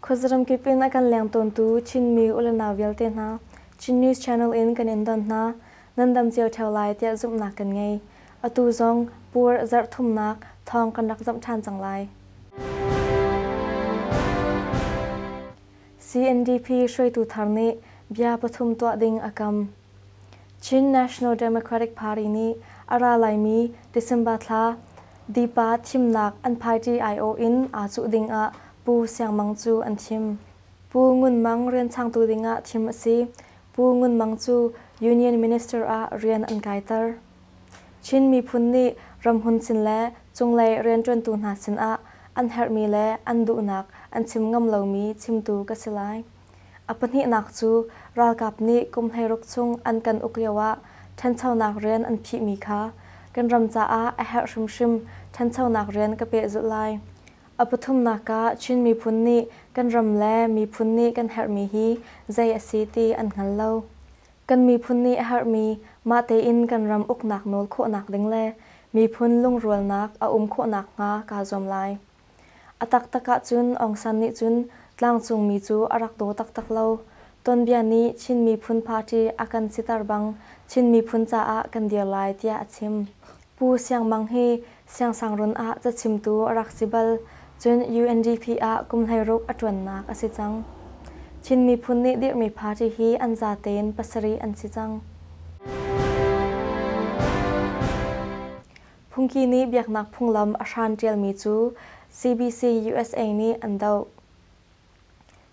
Khuazaram kip in a kan leng tawntu Chinmi ulanau vialte hna, Chin News Channel in kan in don hna. Nan dam cio theo lai tiah zumhnak kan ngei. Atu zong pur zarhthumnak thawng kan rak zamh ṭhan cang lai. CNDP hruaitu thar nih bia pathum tuah ding a kam. Chin National Democratic Party nih a ra laimi December thla Dipa thimnak an party aiawh in aa cuh ding ah Pu Siang Mang cu an thim. Pu Ngun Mang rianchangtu ding ah thim a si. Pu Ngun Mang cu Union Minister ah rian an kaiter. Chin miphun nih ramhun sin le cunglei rianṭuantu hna sinah an herhmi le an duhnak an chim ngam lomi chimtu ka si lai. A pahnihnak cu ralkap nih kum hleiruk chung an kan uk lioah ṭhanchonak rian an phihmi kha kan ram caah a herh hrimhrim ṭhanchonak rian ka pehzulh lai. A pathumnak ah Chin miphun nih kan ram le miphun nih kan herhmi hi zei a si ti an hngal lo. Kan miphun nih a herhmi mah tein kan ram uknak nawl khawhnak ding le miphun lungrualnak a um khawh nakhnga kaa zuam lai. A taktak ahcun Aung San nih cun tlangcungmi cu a rak daw taktak lo. Tonbia nih Chin Miphun Party a kan siter bang Chin miphun caah kan dir lai tiah a chim. Pu Siang Mang hi siangsangruun ah cachimtu a rak si bal, cun UNDP ah kum hleiruk a ṭuannak a si cang. Chin miphun nih dirhmi party hi an za tein pasarih an si cang. Phungki nih biaknak phunglam a hran ṭialmi cu CBC USA nih an doh.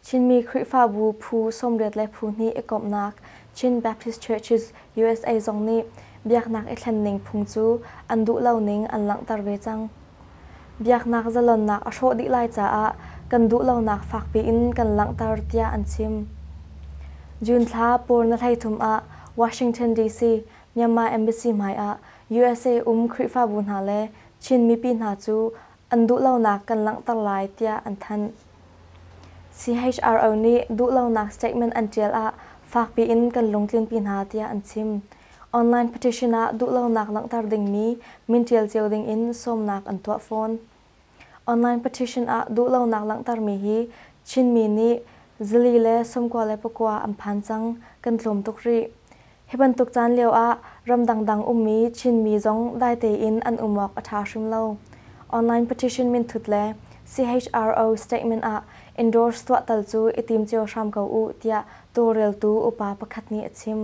Chinmi Khrihfabu phu sawmriat le phu hnih i komhnak Chin Baptist Churches USA zong nih biaknak i thlen ning phung cu an duh lo ning an langhter ve cang. Biaknak zalonnak a hrawh dih lai caah kan duh lonak fakpi in kan langhter tiah an chim. June thla pawr na hlei thum ah Washington DC, Myanmar Embassy hmai ah USA um Khrihfabu hna le Chin mipi hna cu an duhlonak kan langhter lai tiah an thanh. CHRO nih duhlonak statement an ṭial ah fak piin kan lungtlinpi hna tiah an chim. Online petition ah duhlonak langhter dingmi min ṭial cio dingin sawmnak an tuah fawn. Online petition ah duhlonak langhtermi hi Chinmi nih zili le sawmkua le pakua an phan cang, kan tlawm tuk rih. Hi bantuk caan lioah ram dangdang ummi Chinmi zong daite in an um awk a ṭha hrim lo. Online petition minthut le CHRO statement ah endorse tuah tal cu i tim cio hram ko u tiah tawlreltu upa pakhat nih a chim.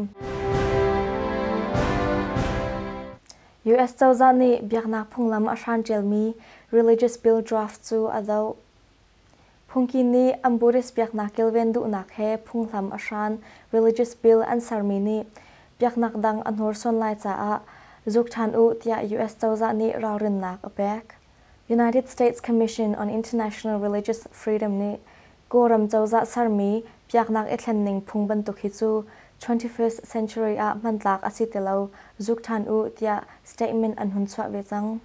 US cozah nih biaknak phunglam a hran ṭialmi Religious Bill Draft cu a doh. Phungki nih an Buddhist biaknak kilven duhnak he phunghlam a hran religious bill an sermi nih biaknak dang a hnursuan lai caah zuk ṭhan u tiah US cozah nih ralrinnak a pek. United States Commission on International Religious Freedom nih Kawlram cozah sermi biaknak i thlen ning phung bantuk hi cu 21st century ah hmantlak a si ti lo, zuk ṭhan u tiah statement an hun chuah ve cang.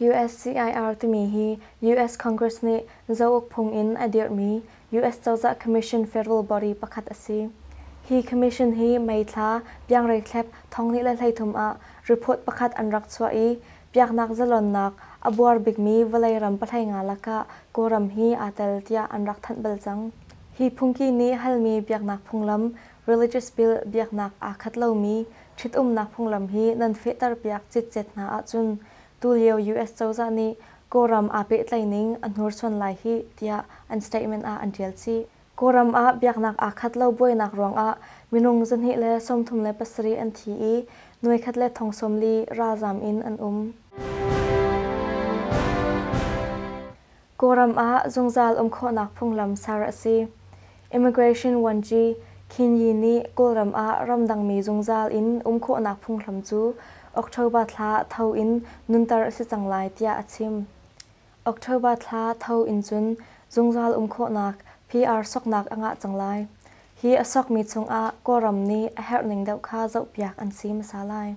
USCIR timi hi US Congress nih Zouk phung in a dirhmi US cozah commission federal body pakhat a si. Hi commission hi May thla piangreithlep thonghnih le hleithum ah report pakhat an rak chuah i biaknak zalonnak a buar bikmi vawlei ram pahlei nga lakah Kawlram hi aa tel tiah an rak thanh bal cang. Hi phungki nih halmi biaknak phunglam Religious Bill biaknak aa khat lomi ṭhitumnak phunglam hi nan fehterpiak citcet hna ahcun tulio US cozah nih Kawlram aa pehtlaihning a hnursuan lai hih tiah an statement ah an ṭial chih. Kawlram ah biaknak aa khat lo buainak ruangah minung zahnih le sawmthum le pasarih an thi i nuekhat le thong sawm li ralzaam in an um. Kawlram ah zungzal um khawhnak phunglam ser a si. Immigration Vuanci Khin Yi nih Kawlram ah ramdangmi zungzal in um khawhnak phunghlam cu October thla tho in nunter a si cang lai tiah a chim. October thla tho in cun zungzal um khawhnak PR soknak a ngah cang lai. Hi a sokmi chungah Kawlram nih a herhning deuh kha zohpiak an si hmasa lai.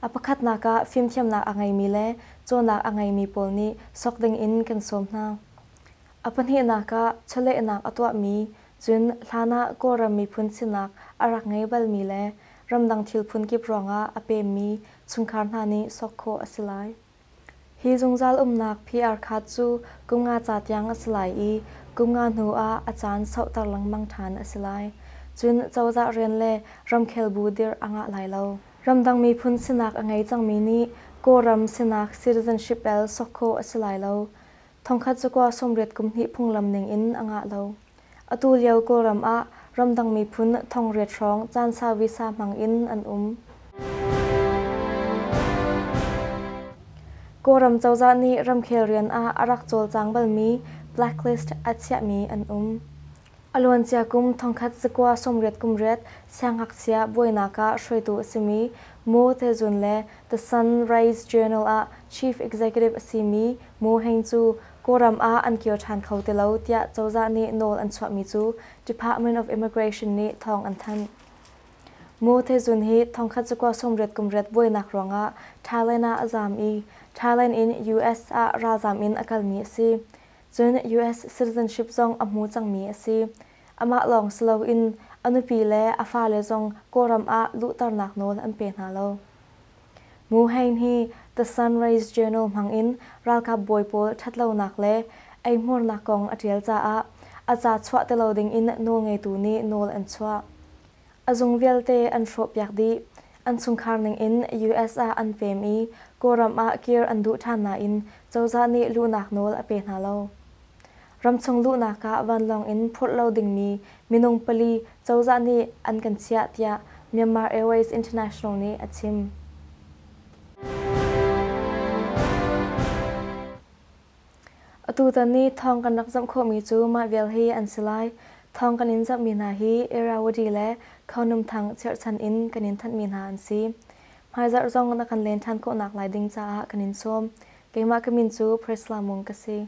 A pakhatnak ah fimthiamnak a ngeimi le cawnnak a ngeimi pawl nih sawk dingin kan sawm hna. A pahnihnak ah chawlehnak a tuahmi, cun hlanah Kawlram miphun sinak a rak ngei balmi le ramdang thil phun kip ruangah a pemmi chungkhar hna nih sawk khawh a si lai. Hi zungzal umnak PR khat cu kum nga ca tiang a si lai i kum nga hnu ah a caan sauhter lengmang ṭhan a si lai. Cun cozah rian le ramkhel bu dirh a ngah lai lo. Ramdang miphun sinak a ngei cangmi nih Kawlram sinak citizenship bel sawk khawh a si lai lo. Thongkhat cakua sawmriat kumhnih phunglam ningin a ngah lo. Atu lio Kawlram ah ramdang miphun thongriat hrawng caan sau visa hmangin an um. Kawlram cozah nih ramkhel rian ah a rak cawlcang balmi blacklist a chiahmi an um. A luancia kum thongkhat zakua sawmriat kumriat siangngakchia buainak ah hruaitu a simi Mo Thezun le The Sunrise Journal ah chief executive a simi Mo Heng cu Kawlram ah an kir ṭhan kho ti lo tiah cozah nih nawl an chuahmi cu Department of Immigration nih thawng an thanh. Mo Thezun hi thongkhat zakua sawmriat kumriat buainak ruangah Thailand ah a zaam i Thailand in US ah ralzaam in a kalmi a si. cun US citizenship zong a hmu cangmi a si. Amah lawng si loin a nupi le a fale zong Kawlram ah luhternak nawl an pe hna lo. Mu Hein hi The Sunrise Journal hmangin ralkap bawi pawl ṭhatlonak le eihmuarnak kong a ṭial caah a ca chuah ti lo dingin nawlngeitu nih nawl an chuah. a zung vialte an hrawhpiak dih. An chungkhar ningin US ah an pem i Kawlram ah kir an duh ṭhan nain cozah nih luhnak nawl a pe hna lo. Ramchung luhnak ah vanlawng in phurh lo dingmi minung pali cozah nih an kan chiah tiah Myanmar Airways International nih a chim. Atutan i thawng kan rak zamh khawhmi cu mah vial hi an si lai. Thawng kan in zamhmi hna hi Irrawaddy le Khonum Thang cherhchan in kan in thanhmi hna an si. Hmaizarh zong na kan len than khawhnak lai ding caah kan in sawm. Keimah ka min cu Priscilla Mung ka si.